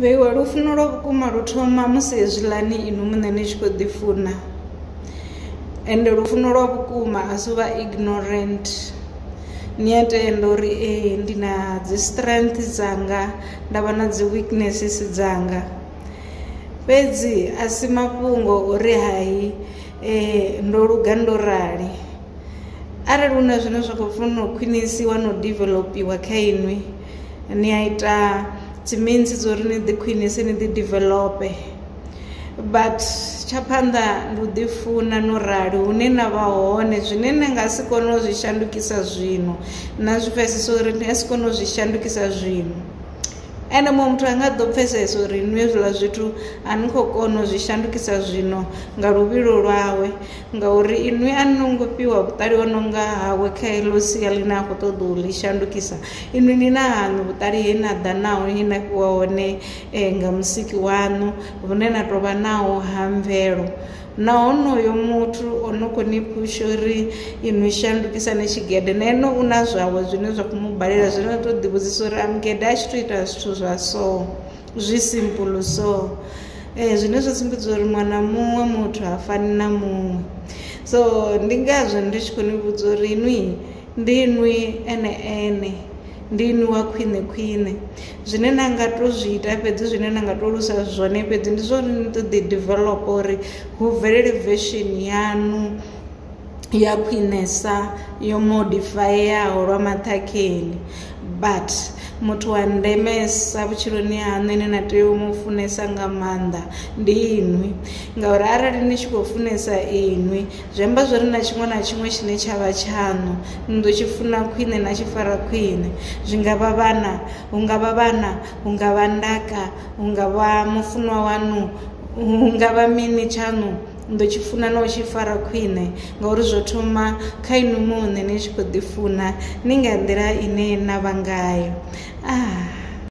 Vheiwe, lufuno lwa vhukuma lu thoma musi hezwiḽani inwi muṋe ni tshi khou ḓifuna ende lufuno lwa vhukuma a si u vha ignorant ni a tenda uri ee ndi na dzi strength dzanga nda vha na dzi weaknesses dzanga fhedzi a si mafhungo uri hai ndo luga ndo rali arali hu na zwine zwa khou funa u khwinisiwa na u developer kha inwi ni a ita dzi means dzo uri ni ḓi khwinise ni ḓi develope but tsha phanḓa ndi u ḓifuna no rali hune na vha hone zwine ni nga si kone u zwi shandukisa zwino na zwi pfesesa uri ni a si kone u zwi shandukisa zwino ene muṅwe muthu a nga ḓo pfesesa uri nwi hezwiḽa zwithu a ni khou kona u zwi shandukisa zwino nga luvhilo lwawe ngauri inwi a no ngo fhiwa vhuṱali ho no nga hawe kha heḽo sia ḽine a khou ṱoḓa u ḽi shandukisa inwi ni na haṋu vhuṱali he na ḓa naho he na fhiwa hone eh, nga musiki waṋu vhune na tou vha naho ha mvelo na honoyo muthu o no khou ni phusha uri inwi shandukisane tshigede na ene u na zwawe zwine zwa khou mu balela zwine na tou ḓivhudzisa uri a mugede a tshi tou ita zwithu zwa soo zwi simple so zwine zwa sumbedza uri muṅwe na muṅwe muthu ha fani na muṅwe so ndi ngazwo ndi tshi khou ni vhudza uri inwi ndi inwi ene ene ndi inwi wa khwine khwine zwine na nga to zwi ita fhedzi zwine na nga to lusa zwone fhedzi ndi zwa uri ni to ḓi developer uri hu bvelele version yanu ya khwinesa yo modifayeaho lwa maṱhakheni but muthu wa ndemesa vhutshiloni haṋu ine na tea u mu funesa nga maanḓa ndi inwi ngauri arali ni tshi khou funesa inwi zwi amba zwori na tshiṅwe na tshiṅwe tshine tsha vha tshaṋu ni ḓo tshi funa khwine na tshi fara khwine zwi nga vha vhana hu nga vha vhana hu nga vha ndaka hu nga vha mufunwa waṋu hu nga vha mini tshaṋu ni ḓo tshi funa na u tshi fara khwine ngauri zwo thoma kha inwi muṋe ni tshi kho ḓi funa ni nga nḓila ine na vha ngayo ah.